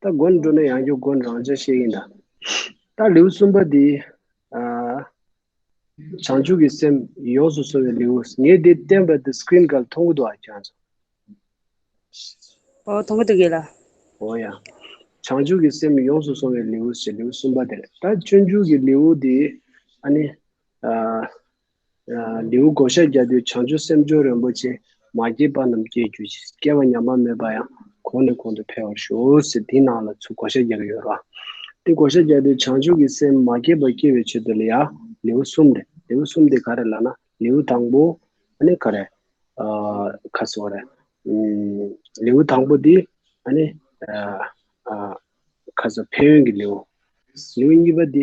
ད་དགོན་འགྲོ་ན་ཡང་རྒྱུ་དགོན་རང་བྱོན་ཤེས་ཀྱིན་གདའ། ད་ལེའུ་གསུམ་པ་འདི། བྱང་ཆུབ་ཀྱི་སེམས་ཡོངས་སུ་བཟུང་བའི་ལེའུ། ངས་འདི་བསྟན་པ་འདི་སྐྲིན་གལ་མཐོང་གི་འདུག་ཨ་ཅག་ཚོ། ཨོ་མཐོང་གི་འདུག་གས་ལ། འོ་ཡ། བྱང་ཆུབ་ཀྱི་སེམས་ཡོངས་སུ་བཟུང་བའི་ལེའུ་ཞེས་ལེའུ་གསུམ་པ་དེར། ད་སྤྱོད་འཇུག་གི་ལེའུ་འདི། ཨ་ནི། ལེའུ་གོ་ཤྲཱི་རྒྱ་མདུད་བྱང་ཆུབ་སེམས་སྦྱོར་རིན་པོ་ཆེ་མ་སྐྱེས་པ་རྣམས་སྐྱེ་འགྱུར་ཅིག་སྐྱེ་བ་ཉམས་པ་མེད་པ་ཡང་གོང་ནས་གོང་དུ་འཕེལ་བར་ཞུགས་ཟེར་དེའི་ནང་ལ་ཚུལ་གོ་ཤྲཱི་རྒྱ་ག་ཡོད་རོ། དེ་གོ་ཤྲཱི་རྒྱ་མདུད་བྱང་ཆུབ་ཀྱི་སེམས་མ་སྐྱེས་པ་སྐྱེ་བའི་ཆེད་དུ་ལ་ཡ། ལེའུ་གསུམ་རེད། ལེའུ་གསུམ་དེ་ག་རེ་ལགས་ན་ལེའུ་དང་པོ་ནི་ག་རེ། ཁ་སོ་རེད། ལེའུ་དང་པོ་དེ་ནི་ཁ་སོ་ཕན་ཡོན་གྱི་ལེའུ། ལེའུ་གཉིས་པ་དེ་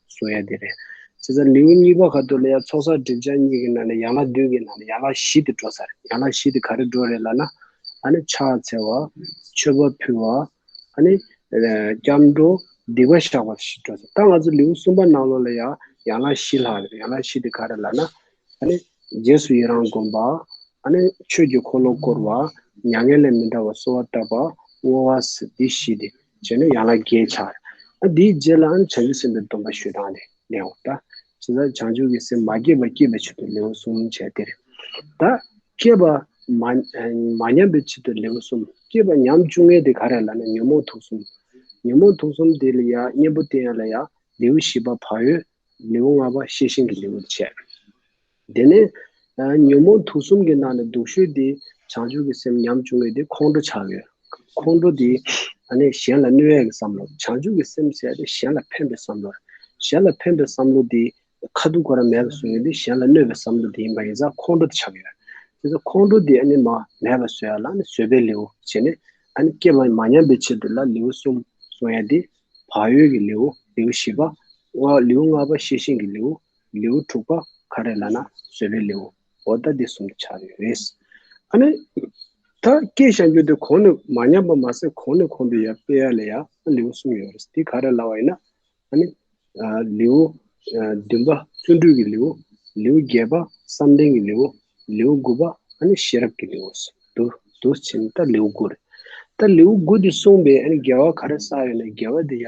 གསུང་ཡ་དེ་རེད། ཚེ་ས་ལེའུ་གཉིས་པ་ཁ་ཐུག་ལ་ཡང་ཚོགས་བསགས་སྒྲིབ་སྦྱངས་གཉིས་ཀྱི་ནང་ནས་ཡན་ལག་བདུན་གྱི་ནང་ནས་ཡན་ལག་བཞི་དེ་འགྲོ་ས་རེད། ཡན་ལག་བཞི་དེ་ག་རེ་འགྲོ་རེད་ལ་ན། ཨ་ནི་ཕྱག་འཚལ་བ། མཆོད་པ་ཕུལ་བ། ཨ་ནི། སྐྱབས་འགྲོ། སྡིག་པ་བཤགས་པ་བཞི་འགྲོ་ས། ད་ང་ཚོ་ལེའུ་གསུམ་པ་ནང་ལོགས་ལ་ཡང་ཡན་ལག་བཞི་ལྷག་རེད། ཡན་ལག་བཞི་དེ་ག་རེ་ལ་ན། ཨ་ནི། རྗེས་སུ་ཡི་རང་བསྒོམ་པ། ཨ་ནི། ཆོས་ཀྱི་འཁོར་ལོ་བསྐོར་བ། མྱ་ངན་ལས་མི་འདའ་བར་གསོལ་བ་བཏབ་པ། བསྔོ་བ། འདི་བཞི་དེ། བྱས་ནས་ཡང་ལ་རྒྱས་འཆར། དེའི་རྗེས་ལ་བྱང་ཆུབ་སེམས་དཔའི་སྡོམ་པ་ཞུས་དང་ནི་ལེའུ་སྟེ། ཇི་ལྟར་བྱང་ཆུབ་ཀྱི་སེམས་མ་སྐྱེས་པ་སྐྱེད་པའི་ཕྱིར་དུ་ལེའུ་གསུམ་བྱས་ཏེ། ད་སྐྱེས་པ། མ་ཉམས་པའི་ཕྱིར་དུ་ལེའུ་གསུམ་སྐྱེས་པ་ཉམས་བཅུ་ལྔའི་དེ་ག་རེ་ལ་ནི་ཉོན་མོངས་དུག་གསུམ། ཉོན་མོངས་དུག་གསུམ་དེ་ལ་ཡང་གཉེན་པོ་བསྟེན་ཡོད་ལ་ཡང་ལེའུ་བཞི་པ་བག་ཡོད། ལེའུ་ལྔ་པ་ཤེས་བཞིན་གྱི་ལེའུར་བྱས། དེ་ནས་ཉོན་མོངས་དུག་གསུམ་གྱི་ནང་ནས་སྡུག་ཤོས་དེ་བྱང་ཆུབ་ཀྱི་སེམས་ཉམ་ཆུང་བས་དེ་ཁོང་ཁྲོ་ཆགས་ཡོད། ཁོང་ཁྲོ་དེ་གཞན་ལ་གནོད་ཡག་གི་བསམ་བློ། བྱང་ཆུབ་ཀྱི་སེམས་ཟད་དེ་གཞན་ལ་ཕན་པའི་བསམ་བློ། གཞན་ལ་ཕན་པའི་བསམ་བློ་དེ་ཁ་ཐུག་གོ་ར་མེད་པ་བཟོ་ཡོད་དེ་གཞན་ལ་གནོད་པའི་བསམ་བློ་དེ་ཡིན་པ་ཡིན་ཙང་ཁོང་ཁྲོ་དེ་ཆགས་ཡོད། དེ་ཚོ་ཁོང་ཁྲོ་དེ་མ་མེད་པ་བཟོ་ཡག་ལ་བཟོད་པའི་ལེའུ་བྱས་ནས་སྐྱེ་བ་མ་ཉམས་པའི་ཆེད་དུ་ལ་ལེའུ་གསུམ་གསུང་ཡག་དེ། བག་ཡོད་ཀྱི་ལེའུ་ལེའུ་བཞི་པ། ལེའུ་ལྔ་པ་ཤེས་བཞིན་གྱི་ལེའུ། ལེའུ་དྲུག་པ་ག་རེ་ལ་ན་བཟོད་པའི་ལེའུ་འོ་ལྟ་འདི་གསུམ་ཆ་རེད། ཨ་ནི། ད་སྐད་བཤད་རྒྱུ་དེ་གོང་ནས་མ་ཉམས་པ་མ་ཟད་གོང་ནས་གོང་དུ་ཡར་སྤེལ་ཡ་ལས་ཡ་ལེའུ་གསུམ་ཡོད་རེད་དེ་ག་རེ་ལ་བ་ཡིན་ན། ཨ་ནི། ལེའུ་བདུན་པ་བརྩོན་འགྲུས་ཀྱི་ལེའུ། ལེའུ་བརྒྱད་པ་བསམ་གཏན་གྱི་ལེའུ། ལེའུ་དགུ་པ་ཨ་ནི་ཤེས་རབ་ཀྱི་ལེའུ། དུ་དུ་ཕྱིན་ནི་ད་ལེའུ་དགུ་རེད། ད་ལེའུ་དགུ་འདི་གསུངས་པའི་ཨ་ནི་འགལ་བ་ག་རེ་བསགས་ཡོད་ན་འགལ་བ་དེ་ཡ།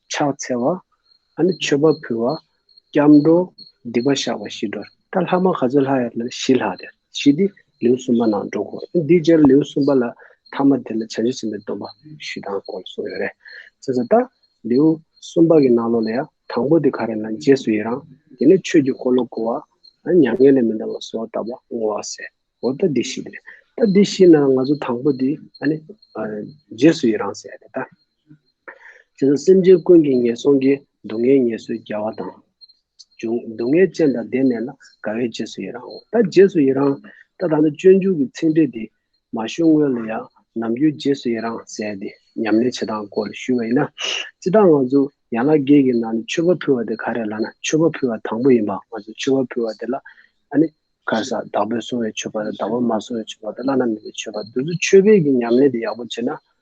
ཕྱག་འཚལ་བ། ཨ་ནི་མཆོད་པ་ཕུལ་བ། སྐྱབས་འགྲོ། སྡིག་པ་བཤགས་པ་ཞི་འགྲོ། ད་ལྷག་མ་ག་ཚོད་ལྷག་ཡོད་ན་ཞི་ལྷག་དེ་ཞི་སྟེ་ལེའུ་གསུམ་པ་ནང་འགྲོ་གོ། འདིའི་རྗེས་ལེའུ་གསུམ་པ་ལ་ཐ་མ་དེ་ལ་བྱང་ཆུབ་སེམས་དཔའི་སྡོམ་པ་ཞུས་དང་སྐོར་གསུངས་ཡོད་རེད། ཅེས་སོགས་ལྟར་ལེའུ་གསུམ་པ་གི་ནང་ལོགས་ལ་ཡང་དང་པོ་དེ་ག་རེ་ན་རྗེས་སུ་ཡི་རང་དེ་ནས་ཆོས་ཀྱི་འཁོར་ལོ་བསྐོར་བ། ཨ་ནི་མྱ་ངན་ལས་མི་འདའ་བ་སོགས་བཏབ་པ་བསྔོ་བ་ཟེར་འོ་ད་འདི་ཞི་དེ་རེད། ད་འདི་ཞི་ན་ང་ཚོ་དང་པོ་དེ་ཨ་ནི་རྗེས་སུ་ཡི་རང་ཟེར་ཡ་རེད་ད། དེ་ལྟར་སེམས་ཅན་ཀུན་གྱི་ངན་སོང་གི་སྡུག་བསྔལ་ངལ་གསོའི་རྒྱལ་བ་དང། འབྱུང་སྡུག་བསྔལ་ཅན་དང་ལྡན་ནས་ལ་དགའ་བས་རྗེས་སུ་ཡི་རང་ངོ། ད་རྗེས་སུ་ཡི་རང། ད་ད་ནི་སྤྱོད་འཇུག་གི་ཚིག་འགྲེལ་འདི། མ་ཞུ་སྔོན་ལ་ཡང་ནམ་རྒྱུན་རྗེས་སུ་ཡི་རང་ཟེར་ཏེ་ཉམས་ལེན་བྱེད་སྟངས་སྐོར་ལ་ཞུས་པ་ཡིན་ན། སྤྱི་བདག་ང་ཚོ་ཡན་ལག་བརྒྱད་ཀྱི་ནང་ནས་མཆོད་པ་ཕུལ་བ་དེ་ག་རེ་ལགས་ན་མཆོད་པ་ཕུལ་བ་དང་པོ་ཡིན་པ་ང་ཚོས་མཆོད་པ་ཕུལ་བ་དེ་ལ་ཨ་ནི། གར་སར་བདག་པོས་བསྲུང་བའི་མཆོད་པ་དང་བདག་པོས་མ་བསྲུང་བའི་མཆོད་པ་དེ་བླ་ན་མེད་པའི་མཆོད་པ་འདི་ཚོ་མཆོད་པས་ཀྱི་ཉམས་ལེན་དེ་ཡག་པོ་བྱེད་ན་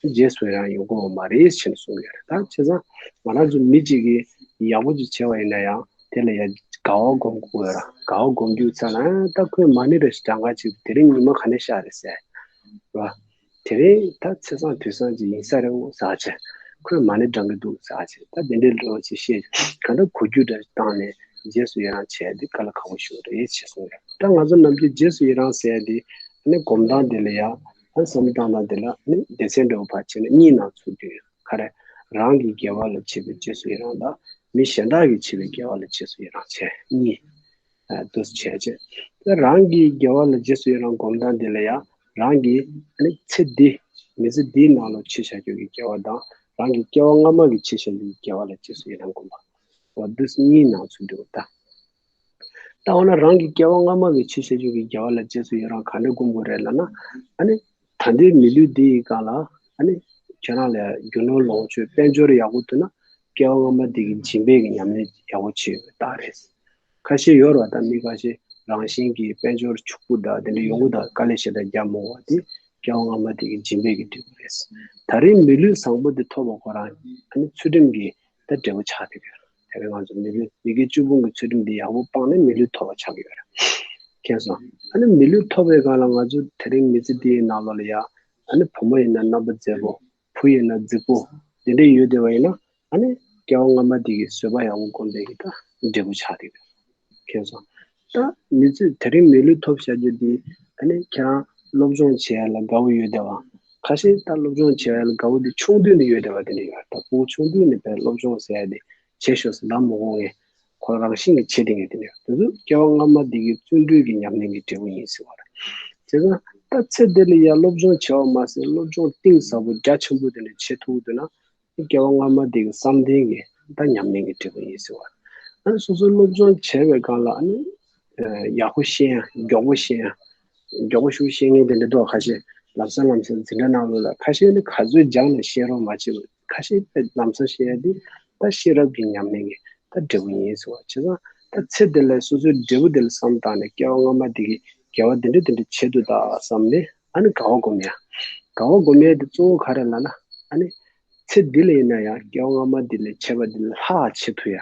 དེ་རྗེས་སུ་ཡང་ཡོང་དགོས་བ་མ་རེད་ཅེས་གསུངས་ཡོད་རེད་ད་བྱས་ཙང་ང་རང་ཚོ་མི་གཅིག་གིས་ཡག་པོ་ཅིག་བྱས་བ་ཡིན་ན་ཡང་དེ་ལ་ཡང་དགའ་བ་སྒོམ་དགོས་ར་དགའ་བ་སྒོམ་རྒྱུ་ཚ་ན་ཨེ་ད་ཁོས་མ་ཎི་རེ་ཞིག་གྲངས་ཀ་ཅིག་དེ་རིང་ཉི་མ་ག་ནས་ཤར་རེད་ཟེར་བ། དེ་རིང་ད་ཚེ་སང་དུས་སང་ཅིག་ཡིན་ས་རེད་འོ་ཟ་བྱས་ཁོས་མ་ཎི་བགྲང་གི་འདུག་ཟ་བྱས་ད་དེ་འདྲའི་ལོ་ཅིག་ཤེས་ག་འདྲ་གོ་རྒྱུ་འདྲ་བཏང་ནས་རྗེས་སུ་ཡི་རང་བྱས་དེ་ག་ལ་ཁག་པོ་བྱུང་རེད་ཅེས་གསུངས་ཡོད་ད་ང་ཚོ་རྣམས་ཀྱིས་རྗེས་སུ་ཡི་རང་ཟེར་དེ་ནས་སྒོམ་སྟངས་དེ་ལ་ཡང་ཨ་བསམ་བཏང་ན་དེ་ལ་ནི་སྡེ་ཚན་འདྲ་བོ་ཕར་ཕྱིན་ན་གཉིས་ནང་ཚུད་དུས་ཁ་རས་རང་གི་དགེ་བ་ལ་བྱེད་པའི་རྗེས་སུ་ཡི་རང་དང་མི་གཞན་དག་གིས་བྱས་པའི་དགེ་བ་ལ་རྗེས་སུ་ཡི་རང་བྱས་གཉིས། འདུ་བྱེད་ཅེས་དེ་རང་གི་དགེ་བ་ལ་རྗེས་སུ་ཡི་རང་བསྒོམ་སྟངས་འདི་ལ་ཡང་རང་གི་ནི་ཚེ་འདི་མི་ཚེ་འདིའི་ནང་ལོ་ཕྱེད་བྱ་རྒྱུ་གི་དགེ་བ་དང་རང་གི་སྐྱེ་བ་སྔ་མ་གི་ཕྱེད་བྱ་རྒྱུ་གི་དགེ་བ་ལ་རྗེས་སུ་ཡི་རང་བསྒོམ་པ། འདི་གཉིས་ནང་ཚུད་དུ་བལྟ། ད་འོ་ན་རང་གི་སྐྱེ་བ་སྔ་མ་བའི་ཆུ་སེར་ཅན་གྱི་རྒྱལ་བ་ལ་རྗེས་སུ་ཡི་རང་ག་འདྲ་བསྒོམ་དགོས་རེད་ལབ་ན། ཨ་ནི། ད་ལྟའི་མི་ལུས་འདི་ཡི་སྒང་ལ། ཨ་ནི། ཁྱེད་རང་ལས་རྒྱུ་ནོར་ལོངས་སྤྱོད་དཔལ་འབྱོར་ཡག་པོ་ཐོན་ན། སྐྱེ་བ་སྔ་མ་དེ་གི་སྦྱིན་པས་གི་ཉམས་ལེན་ཡག་པོ་བྱེད་ཡོད་པའི་རྟགས་རེད། ཁ་ཤས་ཡོད་རེད་ད་མི་ཁ་ཤས་རང་བཞིན་གྱི་དཔལ་འབྱོར་ཕྱུག་པོ་དག་དེ་འདྲ་ཡོང་གི་དག་དཀའ་ལས་ཞེ་དྲག་རྒྱབ་མོང་བ་དེ། སྐྱེ་བ་སྔ་མ་དེ་གི་སྦྱིན་པས་གི་འགྲིག་པ་རེད། ད་རེའི་མི་ལུས་བཟང་པོ་དེ་ཐོབ་པ་ཁོ་རང། ཨ་ནི་ཚུལ་ཁྲིམས་ཀྱི་ད་འབྲས་བུ་ཆགས་ཐེབས་ཡོད་རེད། དེ་བས་ང་ཚོ་མི་ལུས་ཡི་གེ་བཅུ་སྤུངས་ཀྱི་ཚུལ་ཁྲིམས་འདི་ཡག་པོ་སྤངས་ནས་མི་ལུས་ཐོབ་པ་ཆགས་ཀྱི་ཡོད་རེད། མཁྱེན་སོང། ད་ནི་མི་ལུས་ཐོབ་པའི་སྒང་ལ་ང་ཚོ་དེ་རིང་མི་ཚེ་འདིའི་ནང་ལོགས་ལ་ཡང། ད་ནི་བུ་མོ་ཡིན་ན་རྣམ་པ་མཛེས་པོ། བུ་ཡིན་ན་རྫིག་པོ། འདི་འདྲས་ཡོད་བསྡད་པ་ཡིན་ན། ད་ནི་སྐྱེ་བ་སྔ་མ་འདི་གི་བཟོད་པ་ཡག་པོ་སྒོམ་པའི་གི་ད་འབྲས་བུ་ཆགས་ཀྱི་ཡོད་རེད། ཁྱོད་ཚོ། ད་མི་ཚོས་དེ་རིང་མི་ལུས་ཐོབ་བཞག་རྒྱུ་དེ། ད་ནི་ཁྱེད་རང་སློབ་སྦྱོང་བྱེད་ཡ་ལ་དགའ་བོ་ཡོད་བསྡད་བ། ཁ་ཞེ་ད་སློབ་སྦྱོང་བྱེད་ཡ་ལ་དགའ་བོ་དེ་ཆུང་དུས་ནས་ཡོད་བསྡད་བ་དེ་འདྲ་ཡོད། ད་ཁོ་བོ་ཆུང་དུས་ནས་བལ་སློབ་སྦྱོང་ཟེར་ཡ་དེ་བྱེད་ཤོག་ཟེར་ལམ་མོ་གོ་ངས། ཁོ་རང་བཞིན་གྱིས་བྱེད་བསྡད་ངེས་དེ་འདྲ་ཡོད། དེ་ཚོ་སྐྱེ་བ་སྔ་མ་དེ་གའི་བརྩོན་འགྲུས་ཀྱི་ཉམས་ལེན་གྱི་འབྲས་བུ་ཡིན་ཟེར་བ་རེད། བྱས་ཙང་ད་ཚེ་འདི་ལ་ཡ་སློབ་སྦྱོང་བྱས་བ་མ་ཟད་སློབ་སྦྱོང་གཏིང་ཟབ་པོ་རྒྱ་ཆེན་པོ་དེ་འདྲ་བྱེད་ཐུབ་འདོད་ན། སྐྱེ་བ་སྔ་མ་དེ་གི་བསམ་གཏན་གྱི་ད་ཉམས་ལེན་གྱི་འབྲས་བུ་ཡིན་ཟེར་བ། ཨ་སོ་སོའི་སློབ་སྦྱོང་བྱས་པའི་སྒང་ལ་ཨ་ནི་ཡག་པོ་ཤེས་ཡ་མགྱོགས་པོ་ཤེས་ཡ། མགྱོགས་པོ་ཤུགས་ཤེས་ངེས་དེ་འདྲ་འདུག་ཁ་ཤས་ལམ་སང་ལམ་སང་འཛིན་གྲྭ་ནང་ལོ་ལ་ཁ་ཤས་ནི་ག་ཚོད་སྦྱངས་ནས་ཤེས་རོགས་མ་བྱེད་པར་ཁ་ཤས་པས་ལམ་སང་ཤེས་ཡ་དེ་ད་ཤེས་རབ་ཀྱི་ཉམས་ལེན་གྱི་ད་འབྲས་བུ་ཡིན་ཟེར་བ་བྱས་ཙང་ད་ཚེ་འདི་ལ་སོ་སོའི་འབྲས་བུ་དེ་ལ་བསམ་བཏང་ནས་སྐྱེ་བ་སྔ་མ་དེ་གི་དགེ་བ་དེ་འདྲ་དེ་འདྲ་བྱེད་དུ་ད་བསམ་ནས་ཨ་ནི་དགའ་བ་སྒོམ་ཡང། དགའ་བ་སྒོམ་ཡང་དེ་གཙོ་བོ་ག་རེ་ལ་ན། ཨ་ནི། ཚེ་འདི་ལ་ཡིན་ན་ཡང་སྐྱེ་བ་སྔ་མ་འདི་ལས་བྱས་པ་འདི་ལ་ལྷག་བྱེད་ཐུ་ཡ།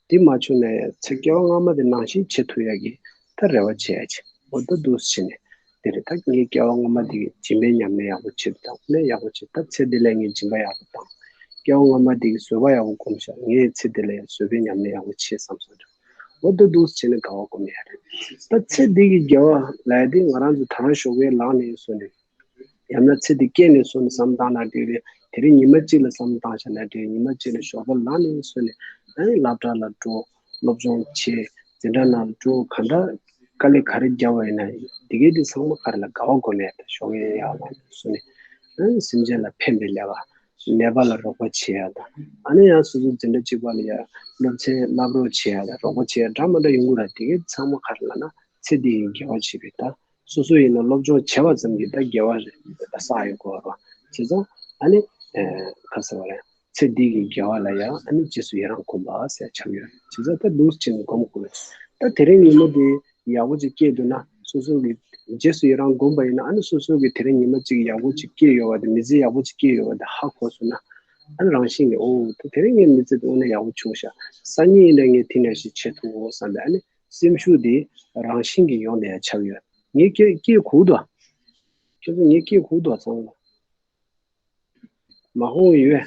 འདི་མ་བྱུང་ན་ཡང་ཚེ་སྐྱེ་བ་སྔ་མ་དེ་ནང་བཞིན་བྱེད་ཐུ་ཡ་གི། ད་རེ་བ་བྱེད་ཡ་བྱེད་འོ་ད་འདུག་བྱེད་ནས། འདི་རེ་ད་ངས་སྐྱེ་བ་སྔ་མ་འདི་གི་སྦྱིན་པའི་ཉམས་ལེན་ཡག་པོ་བྱེད་དུ་བཏང་ནས་ཡག་པོ་བྱེད་ད་ཚེ་འདི་ལ་ངས་སྦྱིན་པ་ཡག་པོ་བཏང། སྐྱེ་བ་སྔ་མ་འདི་གི་བཟོད་པ་ཡག་པོ་སྒོམ་བྱ་ངས་ཚེ་འདི་ལ་ཡང་བཟོད་པའི་ཉམས་ལེན་ཡག་པོ་བྱེད་བསམ་སོང་བྱུང། འོ་ལྡུག་ལྡུག་བྱས་ནས་དགའ་བ་སྒོམ་ཡས་རེད། ད་ཚེ་འདི་གི་རྒྱལ་བ་ལའི་དེ་ང་རང་ཚོ་ད་རང་ཞོགས་པའི་ལག་ནས་བཟོས་ནས། ཡང་ན་ཚེ་འདི་སྐྱེས་ནས་བཟོས་ནས་བསམ་བཏང་ན་དེ་རེད་དེ་རེད་ཉི་མ་གཅིག་ལ་བསམ་བཏང་བྱས་ན་དེ་རེད་ཉི་མ་གཅིག་ལ་ཞོགས་པ་ལག་ནས་བཟོས་ནས། ཨེ་སླབ་གྲྭ་ལ་འགྲོ། སློབ་སྦྱོང་བྱེད། འཛིན་གྲྭ་ནང་ལ་འགྲོ་གང་འདྲ། དཀའ་ལས་ག་རེ་རྒྱབ་བ་ཡིན་ན་ཡིན་དེ་གས་དེ་ཚང་མ་ག་རེ་ལ་དགའ་བ་སྒོམ་ཡས་རེད་ཞོགས་པའི་ཡག་ལག་ནས་བཟོས་ནས། ཨེ་སེམས་ཅན་ལ་ཕན་པའི་ལས་ཀ། ནད་པ་ལ་རོགས་པ་བྱེད་ཡ་དང། ཨ་ནེ་ཡང་སོ་སོ་འཛིན་གྲྭ་གཅིག་པ་ལ་ཡ་སློབ་ཚན་བསླབ་རོགས་བྱེད་ཡ་དང་རོགས་པ་བྱེད་ཡ་འདྲ་མ་འདྲ་ཡོང་གི་ར་དེ་གའི་ཚང་མ་གར་ལ་ན་ཚེ་འདི་ཡིན་འགལ་བ་བྱེད་པའི་ད་སོ་སོ་ཡིན་ན་སློབ་སྦྱོང་བྱེད་པ་ཙམ་གྱིས་ད་འགལ་བ་རེད་ད་ས་ཡོད་གོ་རོ་བྱས་ཙང་ཨ་ནེ། ག་ས་བ་རེད་ཚེ་འདི་གི་འགལ་བ་ལ་ཡ་ཨ་ནེ་རྗེས་སུ་ཡ་རང་གོམས་པ་ས་ཡ་ཆགས་ཡོད་བྱས་ཙང་ད་ལུགས་ཅན་གོམས་དགོས་རེད་ད་དེ་རིང་ཉིན་མོ་དེ་ཡག་པོ་ཅིག་སྐྱེས་འདུག་ན་སོ་སོ་གི་རྗེས་སུ་ཡི་རང་སྒོམ་པ་ཡིན་ན་ཨ་ནི་སོ་སོ་གི་དེ་རིང་ཉི་མ་གཅིག་ཡག་པོ་ཅིག་སྐྱེས་ཡོད་བ་དེ་མི་ཚེ་ཡག་པོ་ཅིག་སྐྱེས་ཡོད་བ་དེ་ཧ་གོ་སོང་ན། ཨ་ནི་རང་བཞིན་གྱིས་ཨོ་ཐ་དེ་རིང་ངའི་མི་ཚེ་དངོས་ནས་ཡག་པོ་བྱུང་ཤག་སང་ཉིན་ཡིན་ན་ངས་དེ་འདྲ་ཞིག་བྱེད་ཐུབ་བོ་བསམ་པའི་ཨ་ནི་སེམས་ཤུགས་དེ་རང་བཞིན་གྱིས་ཡོང་ནས་ཆགས་ཡོད། ངས་སྐྱེས་སྐྱེས་ཁུག་ཏུ། ཁྱོད་ཚོ་ངས་སྐྱེས་ཁུག་ཏུ་ཚང་ལ་མ་ཧོང་ཡོད།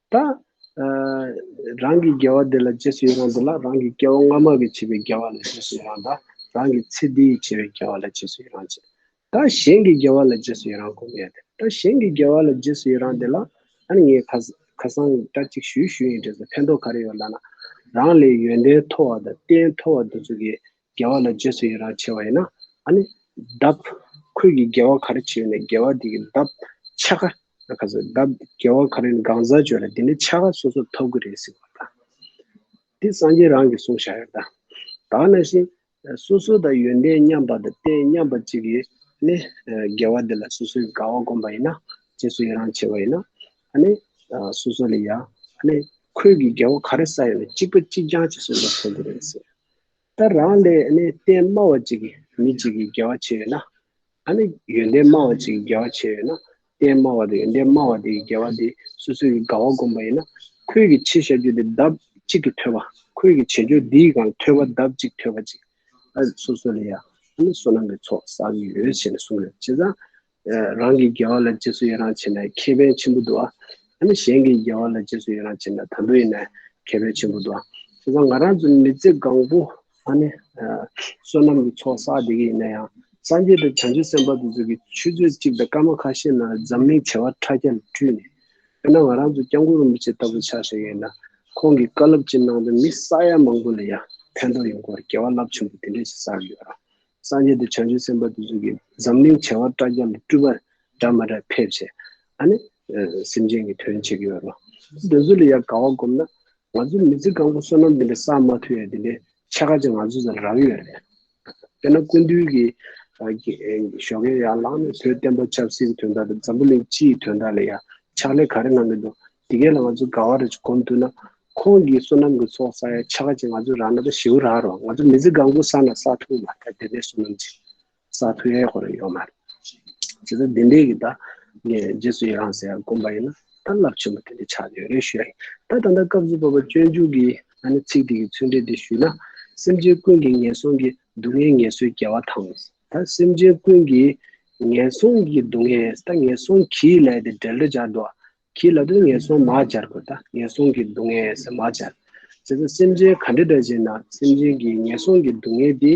ད། རང་གི་དགེ་བ་དེ་ལ་རྗེས་སུ་ཡི་རང་དུ་ལ་རང་གི་སྐྱེ་བ་སྔ་མ་གི་བྱས་པའི་དགེ་བ་ལ་རྗེས་སུ་ཡི་རང་དང་རང་གི་ཚེ་འདི་ཡི་བྱས་པའི་དགེ་བ་ལ་རྗེས་སུ་ཡི་རང་བྱེད། ད་གཞན་གྱི་དགེ་བ་ལ་རྗེས་སུ་ཡི་རང་གོ་ངེས་ཏེ་ད་གཞན་གྱི་དགེ་བ་ལ་རྗེས་སུ་ཡི་རང་དེ་ལ། ཡང་ངས་ཁ་ཁ་སང་སྐྲ་གཅིག་བཞུས་བཞུས་ཡིན་དྲན་སོང་ཕན་ཐོགས་ག་རེ་ཡོད་ལབ་ན། རང་ལས་ཡོན་ཏན་མཐོ་བ་དང་རྟེན་མཐོ་བ་འདི་ཚོ་གི་རྒྱལ་བ་ལ་རྗེས་སུ་ཡི་རང་བྱེད་བ་ཡིན་ན་ཨ་ནི་གདབ། ཁོས་ཀྱི་རྒྱལ་བ་ག་རེ་བྱེད་ནས་རྒྱལ་བ་དེ་གི་གདབ། ཆ་ག། ཨ་ཁ་ཟེར་གདབ་རྒྱལ་བ་ག་རེ་ནི་གང་ཟག་བརྗོད་ལ་དེ་ནི་ཆ་ག་སོ་སོར་འཐོབ་གི་རེད་ཟེར་བ་དང། འདི་སངས་རྒྱས་རང་གིས་གསུངས་བཞག་ཡོད་དང། དག་ན་བཞིན། སོ་སོ་དང་ཡོན་ཏན་མཉམ་པ་དང་རྟེན་མཉམ་པ་ཅིག་གིས་ནི། རྒྱལ་བ་དེ་ལ་སོ་སོའི་དགའ་བ་བསྒོམ་པ་ཡིན་ན། རྗེས་སུ་ཡི་རང་བྱེད་བ་ཡིན་ན། ཨ་ནི། སོ་སོ་ལ་ཡ། ཨ་ནི། ཁོས་ཀྱི་རྒྱལ་བ་ག་རེ་ཟ་ཡོད་ན་གཅིག་པ་གཅིག་རྐྱང་གཅིག་སོ་སོར་འཐོབ་གི་རེད་ཟེར། ད་རང་ལས་གཏན་སྨྲ་བ་ཅིག་གིས་མི་ཅིག་གི་དགེ་བ་བྱས་ཡོད་ན། ད་ནི་ཡོན་ཏན་སྨྲ་བ་ཅིག་གིས་དགེ་བ་བྱས་ཡོད་ན། གཏན་སྨྲ་བ་དང་ཡོན་ཏན་སྨྲ་བ་དེའི་དགེ་བ་དེ་སོ་སོའི་དགའ་བ་བསྒོམ་པ་ཡིན་ན། ཁོད་ཀྱི་ཕྱིར་བཤད་རྒྱུད་དེ་ལྡབ་གཅིག་གིས་ཐོས་པ། ཁོད་ཀྱི་བྱེད་རྒྱུད་འདིའི་གང་ཐོས་པ་ལྡབ་གཅིག་ཐོས་པ་ཅིག། ཨ་སོ་སོ་ལས་ཡང་ཨ་ནི་བསོད་ནམས་ཀྱི་ཚོགས་བསགས་ཡོད་ཞེས་ནས་གསུངས་ཡོད། བྱས་ཙང། རང་གི་དགེ་བ་ལ་རྗེས་སུ་ཡི་རང་བྱེད་ན་ཁེ་ཕན་ཆེན་པོ་འདུ་བ། ཡང་ན་གཞན་གྱི་དགེ་བ་ལ་རྗེས་སུ་ཡི་རང་བྱེད་ན་དམ་པོ་ཡིན་ན་ཁེ་ཕན་ཆེན་པོ་འདུ་བ། བྱས་ཙང་ང་རང་ཚོ་མི་ཚེ་གང་པོ་ད་ནི་བསོད་ནམས་ཀྱི་ཚོགས་བསགས་བསྡད་ཀྱི་ཡིན་ན་ཡང་སངས་རྒྱས་དང་བྱང་ཆུབ་སེམས་དཔའ་དེ་ཚོ་གི་ཆུ་ཚོད་གཅིག་དང་སྐར་མ་ཁ་ཤས་ནང་འཛམ་གླིང་བྱེ་བ་ཕྲག་བརྒྱ་ལ་འཁྲུལ་ནས་ཡོད་ན་ང་རང་ཚོ་སྐྱབས་མགོན་རིན་པོ་ཆེ་ལྟ་བུ་ཆགས་བཞག་ཡིན་ན་ཁོང་གི་བཀའ་སློབ་ཀྱི་ནང་དུ་མི་ས་ཡ་མང་པོ་ལ་ཡང་ཕན་ཐོགས་ཡོང་སྐོར་དགེ་བ་རླབས་ཆེན་པོ་དེ་འདྲ་ཞིག་བསགས་ཡོད་ར་སངས་རྒྱས་དེ་བྱང་ཆུབ་སེམས་དཔའ་དེ་ཚོ་གི་འཛམ་གླིང་བྱེ་བ་ཕྲག་བརྒྱ་ལ་སྤྲུལ་པ་འདྲ་མ་འདྲ་ཕེབས་བྱས་ཨ་ནི་སེམས་ཅན་གྱི་དོན་བྱེད་ཀྱི་ཡོད་རོ། དེ་ཚོ་ལ་ཡང་དགའ་བ་སྒོམ་ན་ང་ཚོ་མི་ཚེ་གང་པོ་བསོད་ནམས་འདི་འདྲ་བསགས་མ་ཐུབ་ཡང་དེ་འདྲའི་ཆེ་ཁག་ཅིག་ང་ཚོ་ཚོ་ལ་རག་ཡོད་རེད། དཔེར་ན་ཀུན་འདུལ་གྱི་ཞོ་གས་ཡར་ལངས་ནས་བོད་བསྟན་པ་ཆབ་སྲིད་ཀྱི་དོན་དག་དང་འཛམ་བུ་གླིང་སྤྱི་ཡི་དོན་དག་ལ་ཡང་ཕྱག་ལས་ག་རེ་གནང་གི་འདུག་དེ་གས་ལ་ང་ཚོ་དགའ་བ་རེད་ཅེས་སྒོམ་འདུག་ན། ཁོང་གིས་བསོད་ནམས་ཀྱི་ཚོགས་བསགས་ཡ་ཆ་ག་ཅིག་ང་ཚོས་རག་ན་ད་ཞེའུ་རག་རོགས་ང་ཚོ་མི་ཚེ་གང་པོ་བསགས་ན་བསགས་ཐུབ་མ་ཐག་དེ་འདྲའི་བསོད་ནམས་ཅིག་བསགས་ཐུབ་ཡ་ཡ་ཁོ་རེ་ཡོད་མ་རེད། བྱས་ཙང་དེ་འདྲས་ཀྱི་ད་ངས་རྗེས་སུ་ཡི་རང་ཟེར་ཡ་སྒོམ་པ་ཡིན་ན་ད་རླབས་ཆེན་པོ་དེ་འདྲས་ཆགས་ཡོད་རེད་ཞུ་ཡ་ཡིན་ད་ད་ལྟ་སྐབས་བཅུ་བ་པ་སྤྱོད་འཇུག་གི་ང་ནི་ཚིག་དེ་གི་ཚུལ་འདྲས་འདི་ཞུས་ན། སེམས་ཅན་ཀུན་གྱི་ངན་སོང་གི་སྡུག་བསྔལ་ངལ་གསོའི་རྒྱལ་བ་དང། ད་སེམས་ཅན་ཀུན་གྱི་ངན་སོང་གི་སྡུག་བསྔལ་ད་ངན་སོང་གིས་ལས་དེ་འབྲེལ་འདྲ་སྦྱར་འདུག་ཨ། གྱི་ལ་དོན་ངན་སོང་མ་སྦྱར་དགོས་ད་ངན་སོང་གི་སྡུག་བསྔལ་ཟེར་མ་སྦྱར། ཇི་ལྟར་སེམས་ཅན་ག་འདྲེ་འདྲ་ཅན་ན་སེམས་ཅན་གྱི་ངན་སོང་གི་སྡུག་བསྔལ་དེ།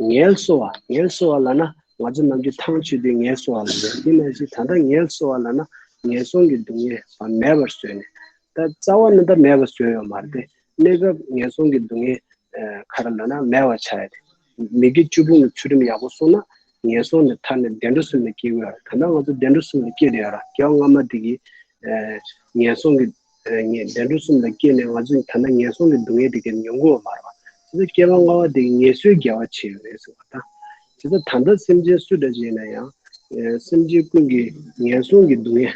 ངལ་གསོ་བ་ངལ་གསོ་བ་ལ་ན་ང་ཚོ་རྣམས་ཀྱི་ཐང་ཆུད་དེ་ངལ་གསོ་བ་ལ་ཡོད་དེ་ན་བཞིན་ད་ལྟ་ངལ་གསོ་བ་ལ་ན་ངན་སོང་གི་སྡུག་བསྔལ་བ་མེད་པར་བཟོས་ནས་ད་རྩ་བ་ན་ད་མེད་པར་བཟོས་ཡོད་མ་རེད་གནས་སྐབས་ངན་སོང་གི་སྡུག་བསྔལ་ཁ་ར་ལ་ན་མེད་བར་བྱ་ཡོད་དེ། མི་དགེ་བཅུ་སྤོང་བའི་ཚུལ་ཁྲིམས་ཡག་པོ་སྲུང་ན་ངན་སོང་ནས་ཐར་ནས་བདེ་འགྲོ་སུ་ལ་སྐྱེ་དགོས་ད་ལྟ་ང་ཚོ་བདེ་འགྲོ་གསུམ་ལ་སྐྱེ་རེ་ཡོད་ར་སྐྱེ་བ་སྔ་མ་དེ་གི་ངན་སོང་གི་བདེ་འགྲོ་གསུམ་ལ་སྐྱེས་ནས་ང་ཚོ་ད་ལྟ་ངན་སོང་གི་སྡུག་བསྔལ་དེ་གི་མྱོང་དགོས་བ་མ་རེད་བ། ད་ལྟ་སྐྱེ་བ་སྔ་བ་དེ་གི་ངལ་གསོའི་རྒྱལ་བ་བྱེད་ཡོད་རེད་ཟེར་བ་དང། དེ་ལྟར་ད་ལྟ་སེམས་ཅན་སུ་འདྲ་ཞིག་ཡིན་ན་ཡང་སེམས་ཅན་ཀུན་གི་ངན་སོང་གི་སྡུག་བསྔལ་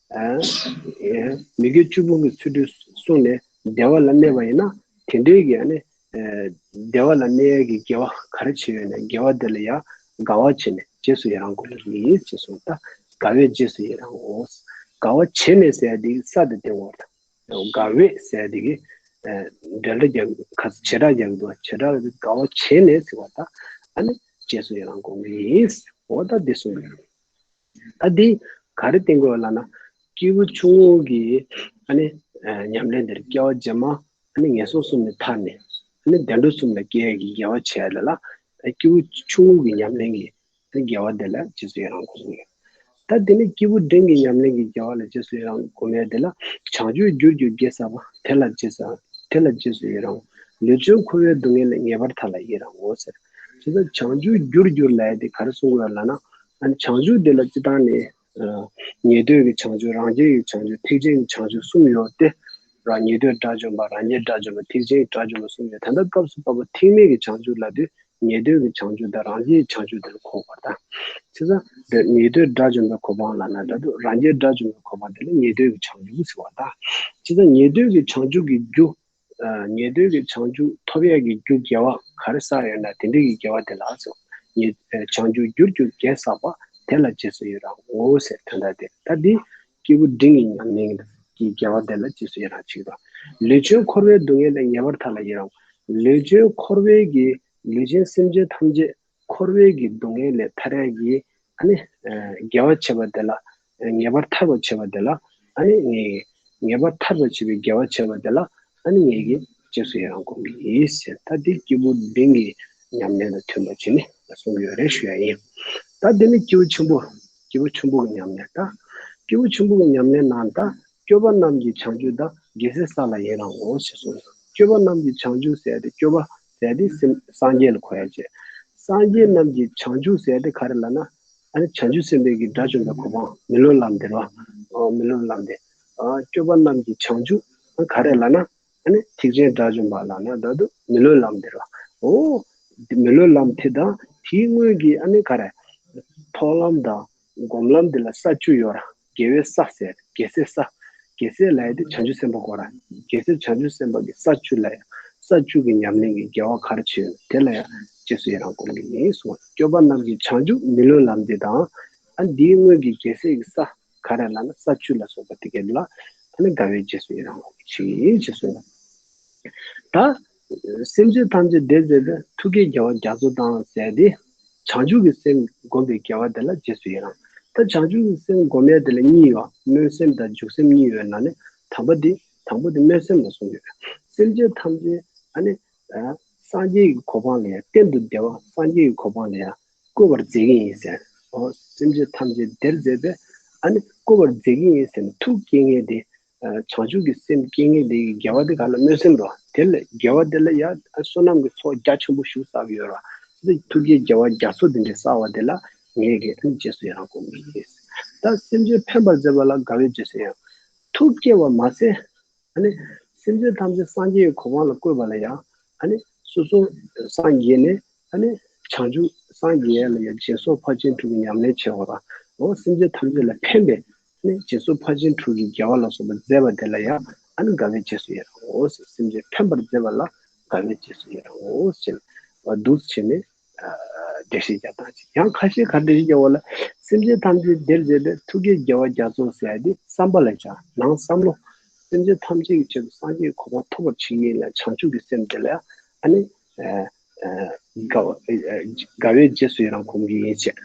མི་དགེ་བཅུ་སྤོང་གི་ཚུལ་དུ་གསུངས་ནས་བདེ་བ་ལ་གནས་པ་ཡིན་ན་དེ་འདྲའི་གི་ནི་བདེ་བ་ལ་གནས་ཀྱི་དགེ་བ་ག་རེ་བྱས་ཡོད་ནས་དགེ་བ་དེ་ལ་ཡང་དགའ་བ་བྱས་ནས་རྗེས་སུ་ཡི་རང་དགོས་ལ་ནི་ཞེས་གསུངས་ལ། དགའ་བས་རྗེས་སུ་ཡི་རང་ངོ། དགའ་བ་བྱས་ནས་ཟས་དེ་ས་དེ་སྟེང་འོག་དང། དགའ་བས་ཟས་དེ་གི་འབྲེལ་སྒྲ་རྒྱག་གི་དགོས་བྱེ་བྲག་རྒྱག་གི་འདུག་བྱེ་བྲག་དགའ་བ་བྱས་ནས་ཟེར་བ་དང། རྗེས་སུ་ཡི་རང་དགོངས་ཀྱི། འོ་ད་འདི་གསུངས་པའི། ད་འདི་ག་རེ་བསྟན་དགོས་བ་ལ་ན། སྐྱེས་བུ་ཆུང་ངུ་གི་ཨ་ནི་ཉམས་ལེན་འདིར་སྐྱེ་བ་རྗེས་མ་ཨ་ནི་ངན་སོང་གསུམ་ནས་ཐར་ནས་ཨ་ནི་བདེ་འགྲོ་གསུམ་ལ་སྐྱེ་བའི་དགེ་བ་བྱས་ལ་ལ། སྐྱེས་བུ་ཆུང་ངུ་གི་ཉམས་ལེན་གྱི་དགེ་བ་འདི་ལ་རྗེས་སུ་ཡི་རང་གོ་གསུངས་ཡོད། ད་འདི་ནི་སྐྱེས་བུ་འབྲིང་གི་ཉམས་ལེན་གྱི་དགེ་བ་ལ་རྗེས་སུ་ཡི་རང་གོ་མེད་དེ་ལ་བྱང་ཆུབ་རྒྱུར་གྱུར་རྒྱལ་ཟབ་པ་དེ་ལ་རྗེས་སུ་དེ་ལ་རྗེས་སུ་ཡི་རང་ངོ། ལུས་ཅན་འཁོར་བའི་སྡུག་བསྔལ་ལས་ངེས་པར་ཐར་ལ་ཡི་རང་ངོ་ཟེར། དེ་ལྟར་བྱང་ཆུབ་རྒྱུར་གྱུར་ལས་དེ་ག་རེ་གསུངས་དགོས་བ་ལ་ན། བྱང་ཆུབ་འདི་ལ་སྤྱི་དང་ནི། ཉེ་དུས་ཀྱི་བྱང་ཆུབ་རང་རྒྱལ་གྱི་བྱང་ཆུབ་ཐེག་ཆེན་གྱི་བྱང་ཆུབ་གསུམ་ཡོད་དེ། རང་ཉེ་དུས་དགྲ་བཅོམ་པ་རང་རྒྱལ་དགྲ་བཅོམ་པ་ཐེག་ཆེན་གྱི་དགྲ་བཅོམ་པ་གསུམ་ཡོད་དེ། ད་ལྟ་སྐབས་སུ་བབ་པ་ཐེག་དམན་གྱི་བྱང་ཆུབ་ལ་དུས་ཉེ་དུས་ཀྱི་བྱང་ཆུབ་དང་རང་རྒྱལ་གྱི་བྱང་ཆུབ་དེ་ལ་གོ་བར་དང། ཕྱི་ས་དེ་ཉེ་དུས་དགྲ་བཅོམ་པའི་གོ་འཕང་ལ་ནི་ད་དུས་རང་རྒྱལ་དགྲ་བཅོམ་པའི་གོ་འཕང་དེ་ལ་ཉེ་དུས་ཀྱི་བྱང་ཆུབ་ཟེར་བ་དང། ཕྱི་ས་ཉེ་དུས་ཀྱི་བྱང་ཆུབ་ཀྱི་རྒྱུ་ངེས་དོན་གྱི་བྱང་ཆུབ་ཐོབ་ཡས་ཀྱི་རྒྱུ་དགེ་བ་ག་རེ་བསགས་ཡོད་ན་དེ་འདྲ་གི་དགེ་བ་དེ་ལགས་སོ། བྱང་ཆུབ་རྒྱུར་རྒྱུ་དགེ་བསགས་པ་དེ་ལ་རྗེས་སུ་ཡི་རང་ངོ་ཞེས་དོན་དག་དེ་ལྟ་སྟེ། སྐྱེས་བུ་འབྲིང་གི་ཉམས་ལེན་གྱི་དགེ་བ་དེ་ལ་རྗེས་སུ་ཡི་རང་བྱེད་ཀྱི། ལུས་ཅན་འཁོར་བའི་སྡུག་བསྔལ་ལས་ངེས་པར་ཐར་ལ་ཡི་རང། ལུས་ཅན་འཁོར་བའི་གྱི་ལུས་ཅན་སེམས་ཅན་ཐམས་ཅད་འཁོར་བའི་གྱི་སྡུག་བསྔལ་ལས་ཐར་ཡས་ཀྱི། དགེ་བ་བྱེད་པ་དེ་ལ་ངེས་པར་ཐར་བར་བྱེད་པ་དེ་ལ་ནི་ངེས་ཀྱི། ངེས་པར་ཐར་པར་བྱེད་པའི་དགེ་བ་བྱེད་པ་དེ་ལ་ནི་ངེས་ཀྱི། རྗེས་སུ་ཡི་རང་དགོངས་ཀྱི་ཡིས་ཟེར་ད་འདི་སྐྱེས་བུ་འབྲིང་གི་ཉམས་ལེན་དང་མཐུན་པར་བྱས་ནས་གསུང་གི་ཡོད་རེད་ཞུ་ཡ་ཡིན། ད་འདི་ནི་སྐྱེས་བུ་ཆེན་པོ། སྐྱེས་བུ་ཆེན་པོ་གི་ཉམས་ལེན་ད། སྐྱེས་བུ་ཆེན་པོ་གི་ཉམས་ལེན་ནང་ད་སྐྱོ་བ་རྣམས་ཀྱི་བྱང་ཆུབ་ད་དགེ་སེལ་ས་ལ་ཡི་རང་དགོངས་ཞེས་གསུངས། སྐྱོ་བ་རྣམས་ཀྱི་བྱང་ཆུབ་ཟེར་ཏེ་སྐྱོ་བ་ཟས་ཏེ་སེམས་སངས་རྒྱས་ལ་གོ་ཡང་བྱེད། སངས་རྒྱས་རྣམས་ཀྱི་བྱང་ཆུབ་ཟས་ཏེ་ག་རེ་ལ་ན། བྱང་ཆུབ་སེམས་དཔའི་གི་སྒྲ་བྱུང་བས་གོ་འཕང་མི་ལོ་ལམ་འདིར། མི་ལོ་ལམ་འདིར། སྤྱོད་པ་རྣམས་ཀྱི་བྱང་ཆུབ་ག་རེ་ལ་ན། ཐེག་ཆེན་སྒྲ་བྱུང་བ་ལ་ན་བདག་ཏུ་མི་ལོ་ལམ་འདིར། མི་ལོ་ལམ་དེ་དང་དེའི་སྔོན་གྱི་ག་རེ། མཐོང་ལམ་དང་སྒོམ་ལམ་འདི་ལ་ས་བཅུ་ཡོད། རྒྱལ་བའི་ས་ཟེར་རྒྱལ་སྲས་ས། རྒྱལ་སྲས་ལ་ཡང་དེ་བྱང་ཆུབ་སེམས་དཔའ་གོ། རྒྱལ་སྲས་བྱང་ཆུབ་སེམས་དཔའ་གི་ས་བཅུ་ལ་ཡང་ས་བཅུ་གི་ཉམས་ལེན་གྱི་རྒྱལ་བ་གར་བྱེད་ཡོད་ན་དེ་ལ་ཡང་རྗེས་སུ་ཡི་རང་བསྒོམ་གྱི་ཡིན་གསུང་ངོ། སྐྱོབ་པ་རྣམས་ཀྱི་བྱང་ཆུབ་མི་ལུས་ལམ་འདི་དང། ཨ་འདིའི་སྔོན་གྱི་རྒྱལ་སྲས་ཀྱི་ས་ག་རེ་ལ་ན་ས་བཅུ་ལ་སོགས་པ་དེ་སྐད་ལ། ད་ནི་དགའ་བས་རྗེས་སུ་ཡི་རང་བསྒོམ་གྱི་ཕྱིར་ཡིན་ཞེས་གསུངས་ལ། ད། སེམས་ཅན་ཐམས་ཅད་བདེ་མཛད་པའི་ཐུགས་ཀའི་རྒྱལ་བ་རྒྱ་མཚོ་དང་བསྲེས་ཏེ། བྱང་ཆུབ་ཀྱི་སེམས་བསྒོམས་པའི་དགེ་བ་དེ་ལ་རྗེས་སུ་ཡི་རང། ད་བྱང་ཆུབ་ཀྱི་སེམས་བསྒོམ་ཡས་དེ་ལ་གཉིས་ཡོད། སྨོན་སེམས་དང་འཇུག་སེམས་གཉིས་ཡོད་ན་ནི་དམ་པ་དེ་དང་པོ་དེ་སྨོན་སེམས་ལ་གསུངས་ཡོད། སེམས་ཅན་ཐམས་ཅད་ཨ་ནི། སངས་རྒྱས་ཀྱི་གོ་འཕང་ལ་ཡང་གཏན་དུ་བདེ་བ་སངས་རྒྱས་ཀྱི་གོ་འཕང་ལ་ཡང་བཀོད་པར་མཛད་ཀྱིན་ཡིན་ཟེར། སེམས་ཅན་ཐམས་ཅད་བདེར་མཛད་པས་ཨ་ནི་བཀོད་པར་མཛད་ཀྱིན་ཡིན་ཟེར་ན་ཐུགས་དཀྱེལ་ངལ་ཏེ། བྱང་ཆུབ་ཀྱི་སེམས་བསྐྱེད་ངེས་དེ་ཡི་རྒྱལ་བ་དེ་ག་ན་སྨོས་སེམས་རོ། དེ་ལ་རྒྱལ་བ་དེ་ལ་ཡང་བསོད་ནམས་ཀྱི་ཚོགས་རྒྱ་ཆེན་པོ་བཞུགས་བསགས་ཀྱི་ཡོད་རོ། དེ་ལ་ཐུགས་རྗེའི་རྒྱལ་བ་རྒྱ་མཚོ་འདི་འདྲའི་བསགས་བ་དེ་ལ་ངེས་དགེ་ཨ་ནི་རྗེས་སུ་ཡང་དགོངས་མི་ནུས། ད་སེམས་ཅན་ཕན་པར་མཛད་པ་ལ་དགའ་བས་རྗེས་སུ་ཡང་ཐུགས་བསྐྱེད་བར་མ་ཟད། ཨ་ནི་སེམས་ཅན་ཐམས་ཅད་སངས་རྒྱས་ཀྱི་གོ་འཕང་ལ་བཀོད་པ་ལ་ཡང་ཨ་ནི་སོ་སོ་སངས་རྒྱས་ནས་ཨ་ནི་བྱང་ཆུབ་སངས་རྒྱས་ལ་ཡང་སྦྱིན་སོགས་ཕར་ཕྱིན་དྲུག་གི་ཉམས་ལེན་བྱེད་པ་དང། སེམས་ཅན་ཐམས་ཅད་ལ་ཕན་པའི་ནས་རྗེས་སུ་ཕ་ཆེན་དྲུག་གིས་རྒྱལ་བ་ལ་སོགས་པ་མཛད་པ་དེ་ལ་ཡང་ཨ་ནི་དགའ་བའི་རྗེས་སུ་ཡི་རང་ངོ་ཞེས་སེམས་ཅན་ཕན་པར་མཛད་པ་ལ་དགའ་བའི་རྗེས་སུ་ཡི་རང་ངོ་ཞེས་འདུ་བྱེད་ནི། བདེ་གཤེགས་རྒྱ་དང་བཅས་ཡང་ཁ་ཤས་ཁ་བདེ་གཤེགས་རྒྱལ་བོ་ལ་སེམས་ཅན་ཐམས་ཅད་བདེར་མཛད་པའི་ཐུགས་ཀའི་རྒྱལ་བ་རྒྱ་མཚོ་ཟད་དེ་བསམ་པ་ལ་ཞག་ནང་བསམ་མོ། སེམས་ཅན་ཐམས་ཅད་ཀྱི་ཆེད་དུ་སངས་རྒྱས་གོ་འཕང་ཐོབ་པར་བྱེད་ངེས་ལ་བྱང་ཆུབ་ཀྱི་སེམས་དེ་ལ་ཡང་ཨ་ནི། དགའ་བའི་རྗེས་སུ་ཡི་རང་ཁོམ་གྱིན་ཡིན་བྱས།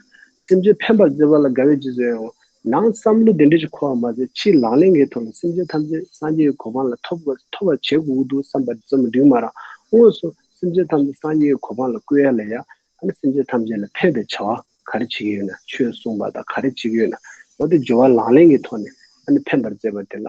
སེམས་ཅན་ཕན་པར་བརྩེ་བ་ལ་དགའ་བའི་རྗེས་སུ་ཡི་རང། ནང་བསམ་བློ་དེ་འདྲ་ཞིག་འཁོར་བ་མ་ཟད་ཕྱིའི་ལག་ལེན་འགའི་ཐོག་ནས་སེམས་ཅན་ཐམས་ཅད་སངས་རྒྱས་ཀྱི་གོ་འཕང་ལ་ཐོབ་པར་བྱེད་དགོས་ཀྱི་འདུག་བསམ་པ་ཙམ་མ་འགྲིག་མ་རང་དངོས་སུ་སེམས་ཅན་ཐམས་ཅད་སངས་རྒྱས་ཀྱི་གོ་འཕང་ལ་བསྐུལ་ཡ་ལ་ཡ། ཨ་ནི་སེམས་ཅན་ཐམས་ཅད་ལ་ཕན་པའི་བྱ་བ་ག་རེ་བྱེད་ཀྱི་ཡོད་ན་ཆོས་གསུངས་པ་དང་ག་རེ་བྱེད་ཀྱི་ཡོད་ན་འོ་དེ་སྦྱོར་བ་ལག་ལེན་གྱི་ཐོག་ནས་ཨ་ནི་ཕན་པར་བརྩེ་བ་དེ་ལ